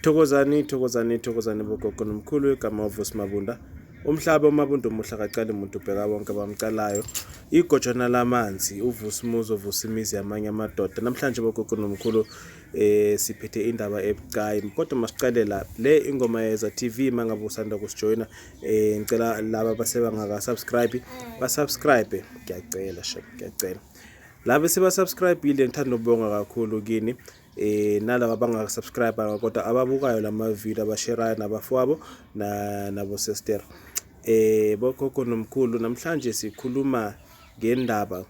Thokozani thokozani thokozani bogogo nomkhulu igama uvusi mabunda umhlaba umabunda umuhle akacali muntu ubheka bonke abamcalayo igojana lamanzi uvusi umuzi ovusa imizi yamanye amadoda namhlanje bogogo nomkhulu eh siphethe indaba ebucayi kodwa masiqale la le ingoma yeza TV mangabe usanda kusijoyina eh ngicela laba basebangaka subscribe ba subscribe ngiyacela shek ngiyacela laba sebasubscribile ngithanda ukubonga kakhulu kini eh nalabo abangaka subscribe kodwa ababukayo lama video abasherayo nabafowabo na nabo sister eh bokhokho nomkhulu namhlanje sikhuluma ngendaba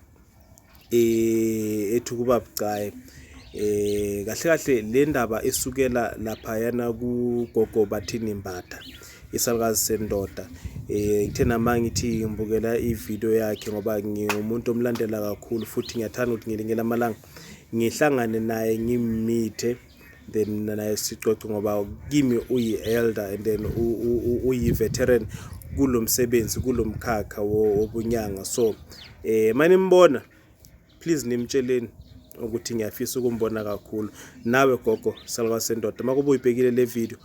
eh ethu kuba bucayi eh kahle kahle le ndaba isukela lapha yana ku gogo bathini mbatha isalukazi sendoda eh ngithe nama ngithi ngibukela ivideo yakhe ngoba ngingumuntu omlandela kakhulu futhi ngiyathanda ukuthi ngilinge lamalanga ngihlangane naye ngimithe then mina naye sixoxe ngoba kimi uyi-elder and then uyi-veteran kulo msebenzi kulo mkhakha wobunyanga so um eh, manimbona please nimtsheleni ukuthi ngiyafisa ukumbona kakhulu nawe gogo salwa sendoda uma kube uyibhekile le video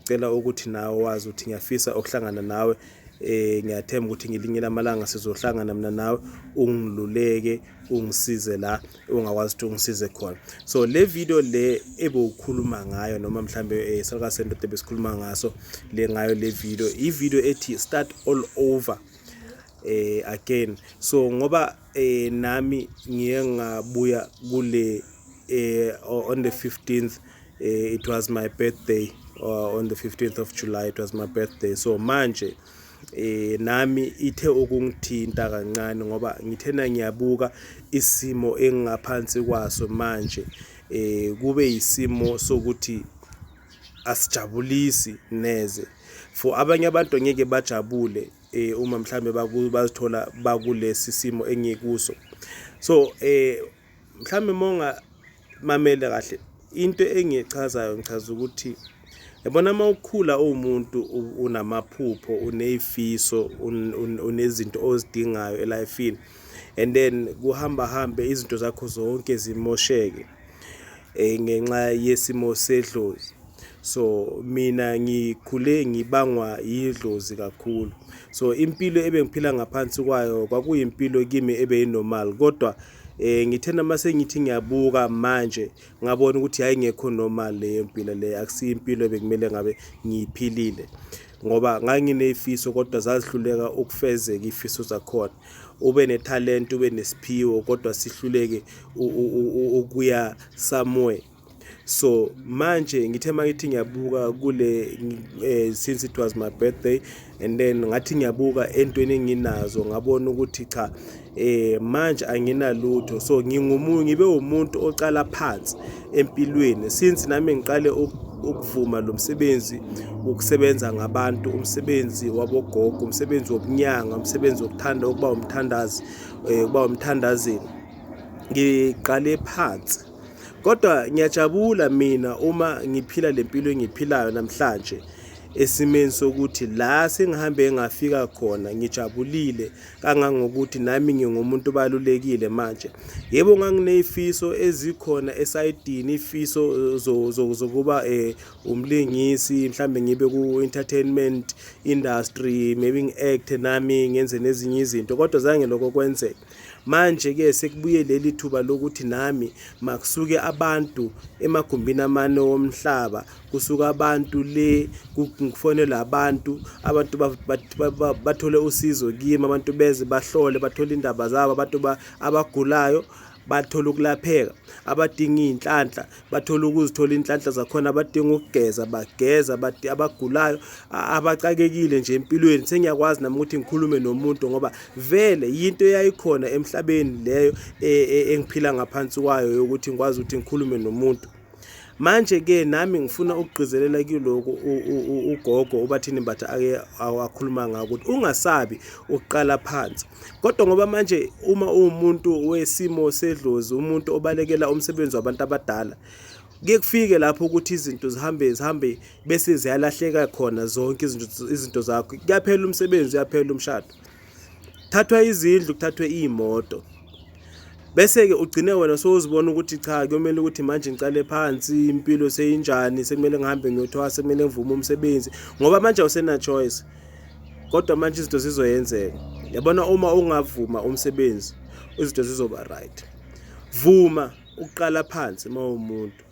Cela ukuthi nawe wazi ukuthi ngiyafisa ukuhlangana nawe eh ngiyathemba ukuthi ngelinye lamalanga sizohlangana mina nawe ungiluleke ungisize la ungakwazi ukuthi ungisize khona so le video le ebewukhuluma ngayo noma mhlambe eh, Salka Center ebesikhuluma ngaso le ngayo le video i video ethi start all over eh again so ngoba Eh nami ngiye ngabuya kule eh on the 15th eh, it was my birthday uh, on the 15th of July it was my birthday so manje eh nami ithe ukungithinta kancane ngoba ngithena ngiyabuka isimo engingaphansi kwaso manje eh kube isimo sokuthi asijabulisi neze for abanye abantu ngeke bajabule eh uma mhlambe bazithola bakulesi simo engikuso so eh mhlambe monga mamele kahle into engichazayo ngichaza ukuthi yabona uma ukhula uwumuntu unamaphupho uneyifiso unezinto ozidingayo elifini and then kuhamba hambe izinto zakho zonke zimosheke eh, ngenxa yesimo sedlozi so mina ngikhule ngibangwa yidlozi kakhulu so impilo ebengiphila ngaphansi kwayo kwakuyimpilo kimi ebeyinormal kodwa eh ngithe noma sengithi ngiyabuka manje ngabona ukuthi hayi ngekho normal leyo mpilo le akusiyo impilo bekumele ngabe ngiyiphilile ngoba nganginezifiso kodwa zazihluleka ukufezeka izifiso zakhona ube nethalente ube nesiphiwo kodwa sihluleke ukuya somewhere so manje ngithe mangithi ngiyabuka kule eh, since it was my birthday and then ngathi ngiyabuka entweni enginazo ngabona ukuthi cha eh manje anginalutho so ngingumuntu ngibe umuntu oqala phansi empilweni since nami ngiqale ukuvuma lo msebenzi wokusebenza ngabantu umsebenzi wabogogo umsebenzi wobunyanga umsebenzi wokuthanda ukuba umthandazi eh, ukuba umthandazini ngiqale phansi kodwa ngiyajabula mina uma ngiphila le mpilo engiphilayo namhlanje esimeni sokuthi la sengihambe ngafika khona ngijabulile kangangokuthi nami ngingumuntu obalulekile manje yebo nganginezifiso ezikhona esayidini ifiso zokuba eh umlingisi mhlambe ngibe ku entertainment industry maybe ngiact nami ngenze nezinye izinto kodwa zange lokho kwenzeke manje ke sekubuye leli thuba lokuthi nami makusuke abantu emagumbini amane womhlaba kusuka abantu le kufonelwa abantu abantu bathole usizo kimi abantu beze bahlole bathole indaba zabo abantu abagulayo bathola ukulapheka abadinga iy'nhlanhla bathola ukuzithola iy'nhlanhla zakhona abadinga ukugeza bageza abagulayo abacakekile nje empilweni sengiyakwazi nami ukuthi ngikhulume nomuntu ngoba vele yinto eyayikhona emhlabeni leyo e, e, engiphila ngaphansi kwayo yokuthi ngikwazi ukuthi ngikhulume nomuntu manje ke nami ngifuna ukugqizelela kuloko ugogo ubathini mbatha ake awakhuluma ngako ukuthi ungasabi ukuqala phansi kodwa ngoba manje uma uwumuntu wesimo sedlozi umuntu obalekela umsebenzi wabantu abadala kuye kufike lapho ukuthi izinto zihambe zihambe bese ziyalahleka khona zonke izinto izinto zakho kuyaphela umsebenzi uyaphela umshado thathwa izindlu kuthathwe iy'moto bese-ke ugcine wena sowuzibona ukuthi cha kuyomele ukuthi manje ngicale phansi impilo seyinjani sekumele ngihambe ngiyothwasa sekumele ngivume umsebenzi ngoba manje awusena-choice kodwa manje izinto zizoyenzeka yabona uma ungavuma umsebenzi izinto zizoba right vuma ukuqala phansi uma umuntu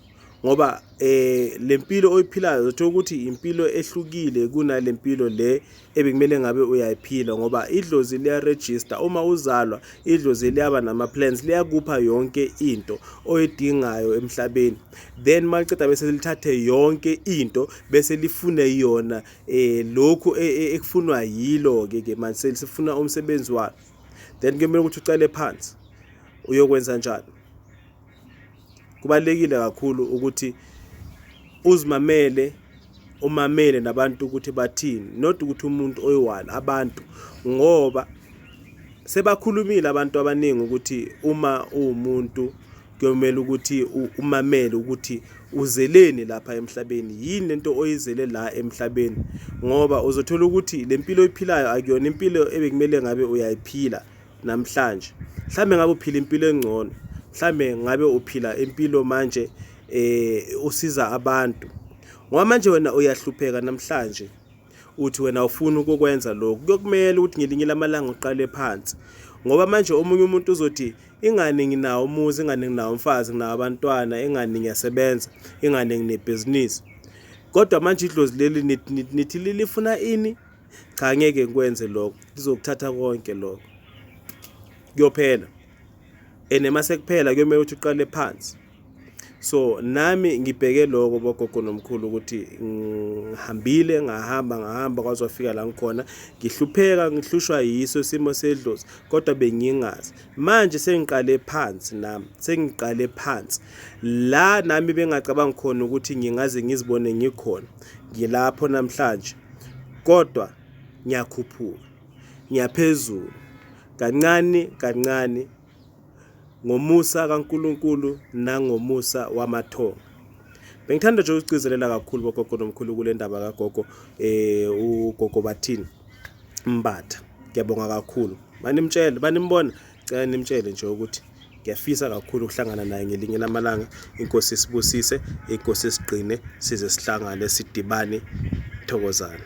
ngoba eh lempilo oyiphilayo uthola ukuthi impilo ehlukile kunalempilo le ebekumele ngabe uyayiphila ngoba idlozi liya register uma uzalwa idlozi liyaba nama plans liyakupha yonke into oyidingayo emhlabeni then maliceda bese lithathe yonke into bese lifune yona eh lokhu e, e, ekufunwa yilo ke ke manje sifuna umsebenzi wakhe then kumele ukuthi ucele phansi uyokwenza njani kubalekile kakhulu ukuthi uzimamele umamele nabantu ukuthi bathini not ukuthi umuntu oyiwala abantu ngoba sebakhulumile abantu abaningi ukuthi uma uwumuntu kuyomela ukuthi umamele ukuthi uzeleni lapha emhlabeni yini lento oyizele la emhlabeni ngoba uzothola ukuthi lempilo oyiphilayo akuyona impilo ebekumele ngabe uyayiphila namhlanje mhlawumbe ngabe uphila impilo engcono mhlawumbe ngabe uphila impilo manje um usiza abantu ngoba manje wena uyahlupheka namhlanje uthi wena ufuna ukukwenza lokhu kuyokumele ukuthi ngelinye lamalanga uqale phansi ngoba manje omunye umuntu uzothi ingane nginawo umuzi ingane nginawo umfazi nginawo abantwana ingane ngiyasebenza ingane nginebhizinisi kodwa manje idlozi leli nithi lifuna ini Cha ngeke ngikwenze lokho. Ngizokuthatha konke lokho. Kuyophela. And uma sekuphela kuyomele ukuthi uqale phansi. So nami ngibheke lokho bogogo nomkhulu ukuthi ngihambile ngahamba ngahamba kwazofika la ngikhona ngihlupheka ngihlushwa yiso isimo sedlozi kodwa bengingazi manje sengiqale phansi nami sengiqale phansi la nami bengacabanga khona ukuthi ngingaze ngizibone ngikhona ngilapho namhlanje kodwa ngiyakhuphuka, ngiyaphezulu, kancane kancane, ngomusa kaNkulunkulu nangomusa wamathonga. Bengithanda nje ukugcizelela kakhulu bogogo nomkhulu kule ndaba kagogo um ugogo bathini Mbatha. Ngiyabonga kakhulu. Banimtshele, banimbona? cela nimtshele nje ukuthi ngiyafisa kakhulu ukuhlangana naye ngelinye lamalanga inkosi isibusise inkosi isigqine size sihlangane sidibane thokozana